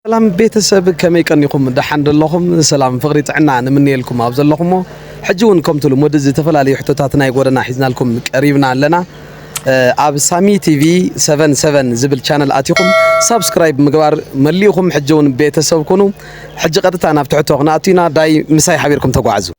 ሰላም ቤተሰብ ከመይ ቀኒኹም ደሓን ደለኹም ሰላም ፍቕሪ ጥዕና ንምንየልኩም ኣብ ዘለኹሞ ሕጂ እውን ከምቲ ልሙድ ዝተፈላለዩ ሕቶታት ናይ ጎደና ሒዝናልኩም ቀሪብና ኣለና ኣብ ሳሚ ቲቪ 77 ዝብል ቻነል ኣቲኹም ሳብስክራይብ ምግባር መሊእኹም ሕጂ እውን ቤተሰብ ኩኑ ሕጂ ቀጥታ ናብ ትሕቶ ክንኣቱ ኢና ዳይ ምሳይ ሓቢርኩም ተጓዓዙ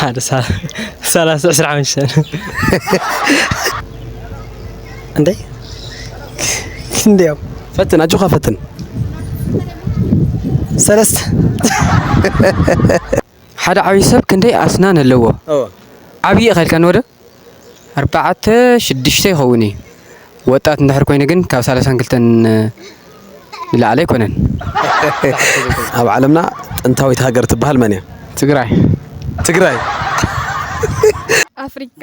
ሓደ ሰላሳ ዕስራ ሓሙሽተ እንዴ እንዴው ፈትን ኣጆኻ ፈትን ሰለስተ ሓደ ዓብይ ሰብ ክንደይ ኣስናን ኣለዎ? ዓብይ ኢኻ ኢልካኒ ወደ ኣርባዕተ ሽዱሽተ ይኸውን እዩ ወጣት እንድሕር ኮይኑ ግን ካብ ሳላሳን ክልተን ንላዕሊ ኣይኮነን። ኣብ ዓለምና ጥንታዊት ሃገር ትበሃል መን እያ? ትግራይ ትግራይ ኣፍሪካ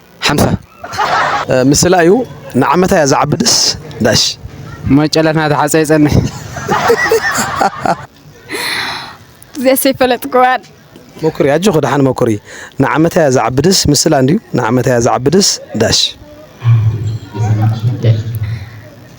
ሓምሳ። ምስላ እዩ ንዓመታ እያ ዝዓቢ ደስ ዳሽ። መጨለት ናቲ ሓፀይ ይፀንሕ። እዚኣስ ኣይፈለጥክዋን። ሞክሪ ኣጆኺ ደሓን ሞክሪ ንዓመታ እያ ዝዓቢ ደስ ምስላ እንድዩ ንዓመታ እያ ዝዓቢ ደስ ዳሽ።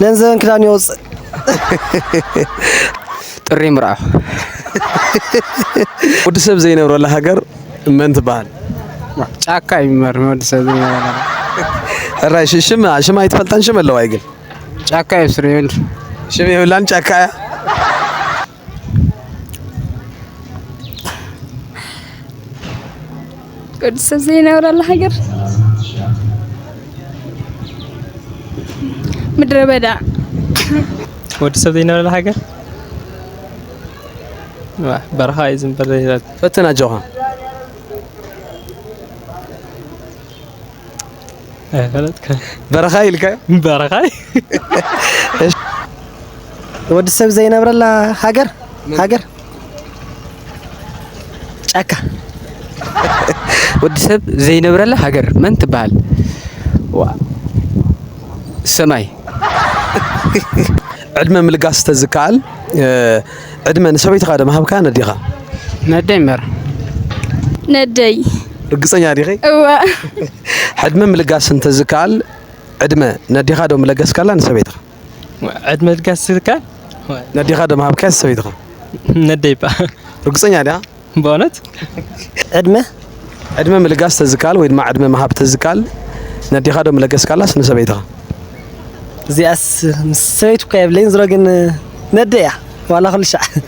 ገንዘበን ክዳን ይወፅእ ጥሪ ምርኣ ወዲ ሰብ ዘይነብረላ ሃገር መን ትበሃል? ጫካ እዩ መር ወዲ ሰብ ዘይነብረላ ሕራይ ሽም ሽም ኣይትፈልጣን ሽም ኣለዋ ግን ጫካ እዩ ስርየል ሽም የብላን ጫካ እያ ቅዱስ ሰብ ዘይነብረላ ሃገር ምድረ በዳ ወዲ ሰብ ዘይነበረላ ሃገር ዋ፣ በረኻ እዩ ዝንበር ዘይዛት ፈትን ኣጆኻ በረኻ ኢልካዮ በረኻ ወዲ ሰብ ዘይነብረላ ሃገር ሃገር ጫካ ወዲ ሰብ ዘይነብረላ ሃገር መን ትበሃል? ሰማይ ዕድመ ምልጋስ ተዝከኣል ዕድመ ንሰበይትኻ ዶ ምሃብካ ነዴኻ? ነደይ እምበር ነደይ ርግጸኛ ዲኺ? እወ ሕድመ ምልጋስ እንተዝከኣል ዕድመ ነዴኻ ዶ ምለገስካላ ንሰበይትኻ? ዕድመ ምልጋስ ዝከኣል ነዴኻ ዶ ምሃብካያ ንሰበይትኻ? ነደይ እባ። ርግጸኛ ዲኻ? በእውነት ዕድመ? ዕድመ ምልጋስ ተዝከኣል ወይ ድማ ዕድመ ምሃብ ተዝከኣል ነዴኻ ዶ ምለገስካላስ ንሰበይትኻ? እዚኣስ ምስ ሰበይቱ እኳ የብለይን ዝሮ ግን ነደይ እያ ዋላ ኩልሻዕ።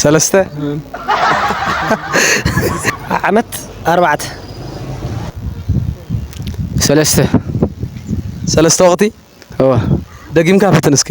ሰለስተ ዓመት ኣርባዕተ ሰለስተ ሰለስተ ወቅቲ እወ ደጊምካ ፈትን እስኪ።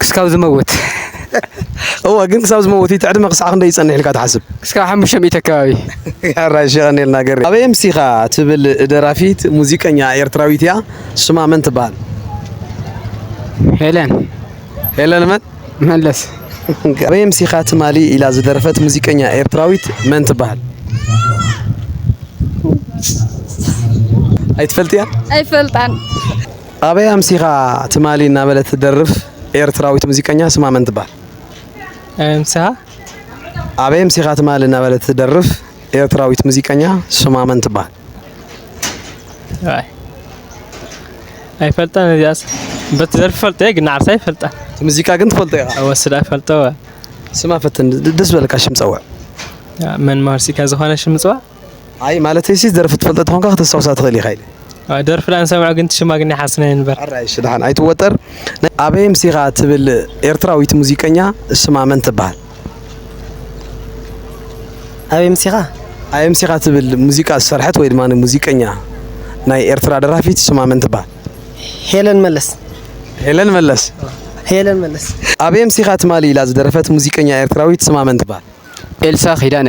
ክስካብ ዝመውት እወ ግን ክሳብ ዝመውት እቲ ዕድመ ክሳዕ ክንደይ ይጸንሕ ኢልካ ትሓስብ? ክስካብ ሓሙሽተ ሚእቲ ኣከባቢ። ኣራይሽ የቐንየልና ገሬ። ኣበይ ኣምሲኻ ትብል ደራፊት ሙዚቀኛ ኤርትራዊት ኢያ ሽማ መን ትብሃል? ሄለን። ሄለን መን? መለስ። ኣበይ ኣምሲኻ ትማሊ ኢላ ዝደረፈት ሙዚቀኛ ኤርትራዊት መን ትብሃል? ኣይትፈልጥያን? ኣይፈልጣን። ኣበይ ኣምሲኻ ትማሊ እናበለት ትደርፍ ኤርትራዊት ሙዚቀኛ ስማ መን ትበሃል? ኣበይ ኣምሲኻ? ኣበይ ኣምሲኻ ትማሊ እናበለት ትደርፍ ኤርትራዊት ሙዚቀኛ ስማ መን ትበሃል? ኣይፈልጣን እዚኣስ በቲ ደርፊ ፈልጦ እየ ግን ንዓርሳ ይፈልጣ እቲ ሙዚቃ ግን ትፈልጦ ኢኻ ወስዳ ፈልጦ ስማ ፈትን ደስ በለካ ሽም ፀውዕ መን መሃርሲካ ዝኾነ ሽም ምፅዋዕ ኣይ ማለተይ ሲ ደርፊ ትፈልጦ ተኾንካ ከተስታውሳ ትኽእል ኢኻ ኢለ። ደርፊ ዳኣ ንሰምዖ ግን እቲ ሽማ ግን ይሓስና እየ ንበር። ሕራይ እሺ ደሓን ኣይትወጠር። ናይ ኣበይ ኣምሲኻ ትብል ኤርትራዊት ሙዚቀኛ ስማ መን ትበሃል? ኣበይ ኣምሲኻ? ኣበይ ኣምሲኻ ትብል ሙዚቃ ዝሰርሐት ወይ ድማ ሙዚቀኛ ናይ ኤርትራ ደራፊት ስማ መን ትበሃል? ሄለን መለስ። ሄለን መለስ። ሄለን መለስ። ኣበይ ኣምሲኻ ትማሊ ኢላ ዝደረፈት ሙዚቀኛ ኤርትራዊት ስማ መን ትበሃል? ኤልሳ ኪዳነ።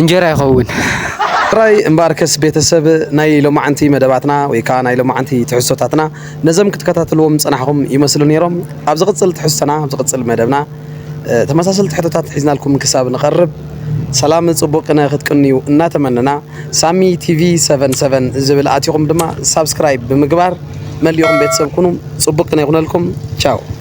እንጀራ ይኸውን። ጥራይ እምበኣርከስ ቤተሰብ ናይ ሎማዓንቲ መደባትና ወይ ከዓ ናይ ሎማዓንቲ ትሕዝቶታትና ነዞም ክትከታተልዎም ዝፀናሕኹም ይመስሉ ነይሮም። ኣብ ዝቕፅል ትሕዝቶና ኣብ ዝቕፅል መደብና ተመሳሰልቲ ሕቶታት ሒዝናልኩም ክሳብ ንቐርብ ሰላም ፅቡቅነ ክትቅንዩ እናተመነና ሳሚ ቲቪ 77 ዝብል ኣቲኹም ድማ ሳብስክራይብ ብምግባር መሊኹም ቤተሰብ ኩኑ። ፅቡቅ ቅነ ይኹነልኩም። ቻው